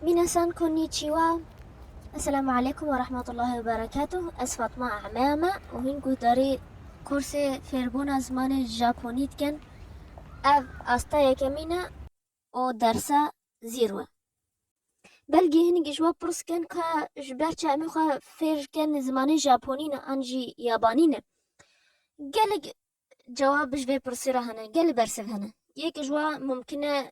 Minasan konnichiwa, Esselamu aleykum ve rahmetullahi ve berekatuh. Ez Fatma A'meya me û hîn guhdarî kursê fêrbûna zimanê Japonî dikin. Ev asta yekemîn e û dersa zîro ye. Belkî hinekî ji we pirs bikin ka ji ber çi em ê xwe fêr bikin zimanê Japonî ne an jî Yabanî ne. Gelek cewab ji vê pirsî re hene, gelek bersiv hene. Yek ji wan mimkun e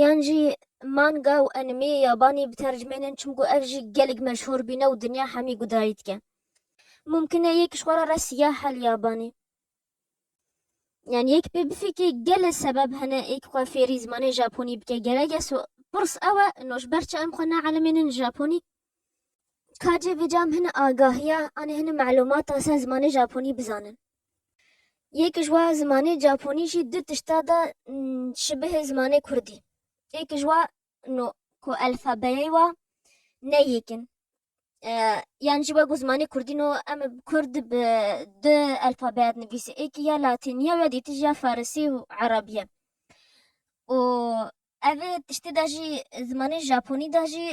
Yan jî manga û enîmeyê yabanî bi tercmeyên çim ku ev jî gelek meşhûr bîne û dinya hemî gudarî dike. Mumkin e yek ji xwe re re siyah e li yabanî. Yan yek pê bifikire gelê sebeb hene yek xwe fêrî zimanê japonî bike. Gerek e pirs ew e no ji ber çi em xwe naelimînin japonî? Ka cih bi cam hin agahiya an hin malûmata ser zimanê Japonî bizanin. Yek ji wa zimanê Japonî jî du tişta da şibihê zimanê Kurdî. Yek ji wan o ku elfabeyê wa ne yek in. Yan jî wek ku zimanê Kurdî no em bi Kurd bi du elfabeya dinivîsê. Yekî ya Latînî ye û ya dîtî jî ya Farisî û Erebî ye. Û Ev ê tiştê de jî zimanê Japonî de jî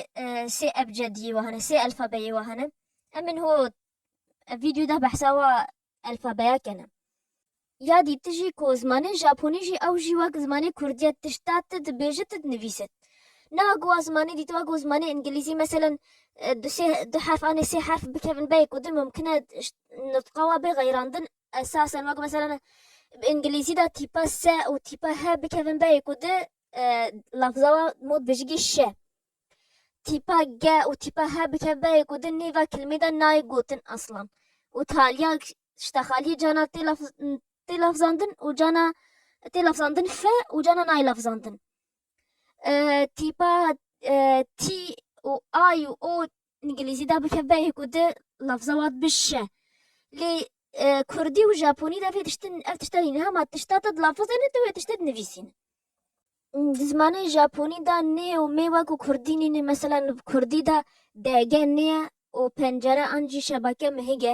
sê ebcediyê we hene, sê elfabeyê we hene. Em ên ho ev vîdyoyê de behsa wa elfabeya kene. Ya dî tu jî ku zimanê Japonî jî ew jî wek zimanê Kurdî ye tişta tu dibêje tu dinivîse. Ne wek wa zimanê dî tu wek zimanê Îngilîzî meselen du sê du herf anê sê herf bikevin beyê ku din mimkin e nitqa we bê xeyrandin Esasen wek mesela bi îngilîzî de tîpa se û tîpa he bikevin beyê ku di lafza wa mod bijigî şe. Tîpa ge û tîpa he bikev beyê ku di nêva kilimê de nayê gotin aslan. Û taliya şta xaliyê cana tê laf tê lafzandin û cana tê lafzandin fe û cana nayê lafzandin. Tîpa tî û ay û o Îngilîzî de bikeve yê ku di lafza wan bişişe. Lê kurdî û japonî de vê tiştin ev tişta nîn. Hema tişta te di lafazê ne tu wê tiştê dinivîsî ne. Di zimanê japonî de nê û mê wek û kurdî nîn e. Meselen di kurdî de DG nê ye û pencere an jî şebake mihig e.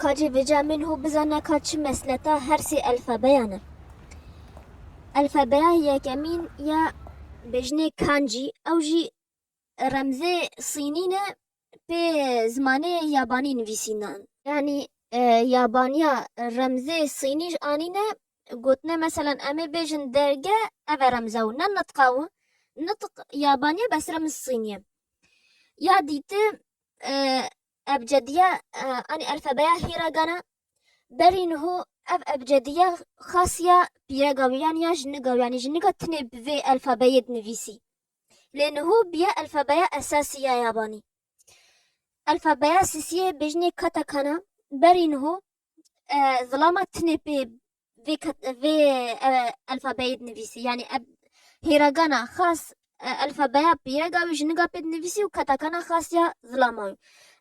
Ka jî vêca min hû bizane ka çi mesleta her sê elfebeyan e. Elfebeya yekemîn ya bêjinê Kanji, ew jî remzê sînî ne pê zimanê yabanî nivîsînan. Yanî yabaniya remzê sînî ji anîne gotine meselan em ê bêjin derge ev e remza û ne nitqa û nitq yabaniye bes remz sînî ye. Ya dîti Ebcediya anî elfebeya hîragan e. Berî niho ev ebcediya xas ya pîrega wî yanî ya jinika wî yanî jinika tinê bi vê elfebeyê dinivîsî. Lê niho bîye elfebeya esasî ya yabanî. Elfebeya sisiyê bêjinê katakana berî niho zilama tinê pê vê kat vê elfabeyê dinivîsî yanî ev hêragana xas elfabeya pîrega wî ji niga pê dinivîsî û katakana xas ya zilama wî.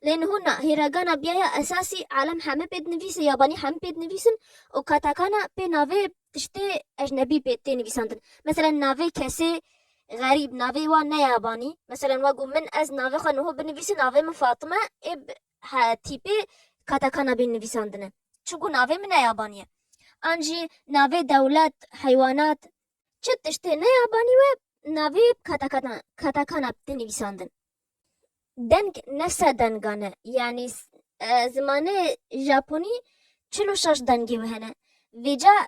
Lê niho na hêragana biya ya esasî alem heme pê dinivîse yabanî heme pê dinivîsin û katakana pê navê tiştê ejnebî pê tê nivîsandin. Meselen navê kesê xerîb navê wan ne yabanî. Meselen wek ku min ez navê xwe niho binivîsim navê min Fatime ê He, tîpê katakana bîn nivîsandine. Çiku navê min ne yabanî ye. An jî navê dewlet, heywanat. Çi tiştê ne yabanî we navê katakana katakana bi nivîsandin. Deng ne sed dengan e. Yanî zimanê japonî çil û şeş dengê we hene. Vêca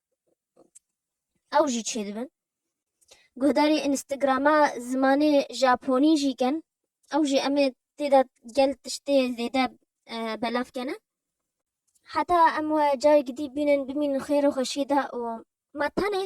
ew jî çêdibin. Guhdarî Instagrama zimanê Japonî jî ken ew jî em ê têda gel tiştê zêde e, belav kene. Heta em we carekî dî bînin bimînin xêr û xweşî de û me tenê